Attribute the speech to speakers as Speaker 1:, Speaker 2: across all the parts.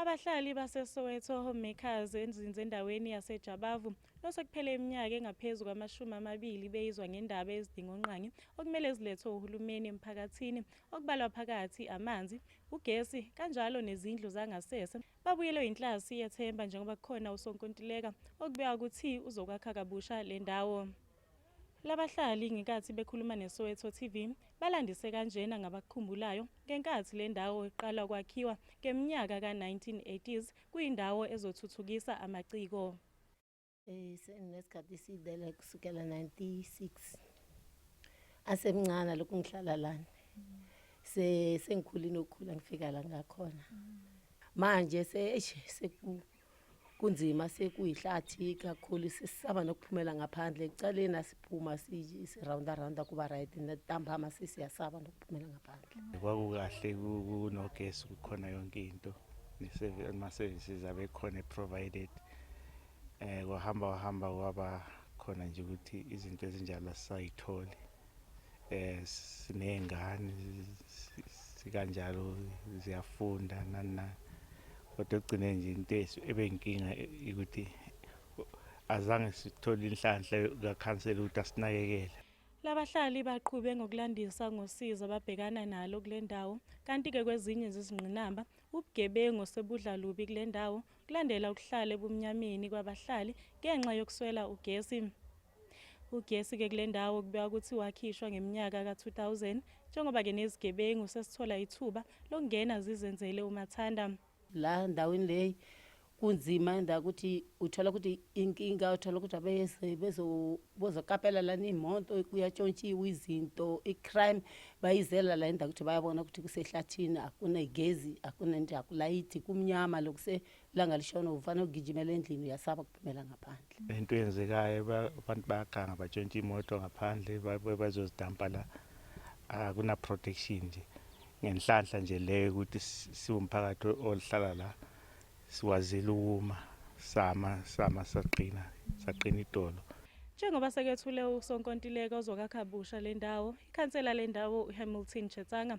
Speaker 1: Abahlali baseSoweto Homemakers enzinze endaweni yaseJabavu nosekuphele iminyaka engaphezu kwamashumi amabili beyizwa ngendaba ezidingongqangi okumele zilethwe uhulumeni emphakathini okubalwa phakathi amanzi, ugesi kanjalo nezindlu zangasese babuyelwe yinhlasi yethemba njengoba kukhona usonkontileka okubeka ukuthi uzokwakha kabusha le ndawo. Labahlali ngenkathi bekhuluma neSoweto TV balandise kanjena ngabakukhumbulayo ngenkathi le ndawo iqala ukwakhiwa ngeminyaka ka-1980s kuyindawo ezothuthukisa amaciko. Eh,
Speaker 2: Senginesikhathi eside la kusukela 96 asemncane lokhu ngihlala lana se sengikhulile ukukhula ngifika la ngakhona manje se eish seku kunzima sekuyihlathi kakhulu sisaba nokuphumela ngaphandle ekucaleni asiphuma sirawunda rawunda kuba right ntambama sisiyasaba nokuphumela ngaphandle kwakukahle
Speaker 3: kunogesi kukhona yonke into ama-services abekhona e-provided um kwahamba wahamba kwaba khona nje ukuthi izinto ezinjalo asisayitholi eh sinezingane sikanjalo ziyafunda nani nani kodwa ekugcine nje into ebenkinga ukuthi azange sithole inhlanhla kakhansela ukuthi asinakekele Labahlali
Speaker 1: baqhube ngokulandisa ngosizo ababhekana nalo kule ndawo kanti-ke kwezinye zezingqinamba ubugebengu sebudla lubi kule ndawo kulandela ukuhlala ebumnyameni kwabahlali ngenxa yokuswela ugesi. Ugesi-ke kule ndawo kubeka ukuthi wakhishwa ngeminyaka ka-2000 njengoba-ke nezigebengu sesithola ithuba lokungena zizenzele umathanda. La ndaweni
Speaker 2: le kunzima nda ukuthi uthola ukuthi inkinga uthola ukuthi abeze bezokapela lana iy'moto kuyatshontshiwa izinto i-crime bayizela la indawo ukuthi bayabona ukuthi kusehlathini akunegezi akunento yakulayithi kumnyama lokuse ilanga lishona ufanele ugijimela endlini uyasaba kuphumela ngaphandle into eyenzekayo
Speaker 3: abantu bayaganga batshontsha imoto ngaphandle bazozidampa la akunaprotection nje ngenhlanhla nje leyo ukuthi siwumphakathi oluhlala la siwazile ukuma sama sama saqina saqina idolo Njengoba
Speaker 1: sekethule usonkontileka ozokakha busha le ndawo, ikhansela le ndawo uHamilton Chetsanga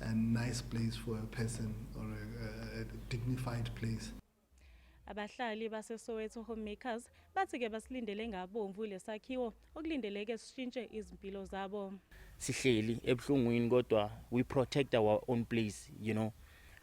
Speaker 4: and nice place for a person or a, a dignified place. Abahlali
Speaker 1: baseSoweto Homemakers bathi ke basilindele ngabomvu lesakhiwo okulindeleke sishintshe izimpilo zabo. Sihleli
Speaker 5: ebuhlungwini kodwa we protect our own place, you know.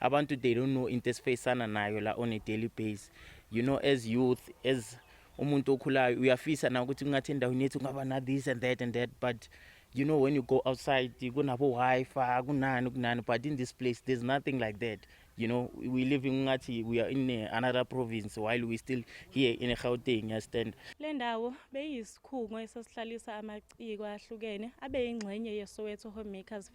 Speaker 5: Abantu they don't know into esifacana nayo la on a daily base. You know as youth as umuntu okhulayo uyafisa na ukuthi kungathi endaweni yethu kungaba na this and that and that but you know when you go outside kunabo wifi kunani kunani but in this place there's nothing like that you know we living ngathi we are in eh, another province while we still here in Gauteng yastand le ndawo
Speaker 1: beyisikhungo esasihlalisa amaciko ahlukene abeyingxenye yeSoweto Homemakers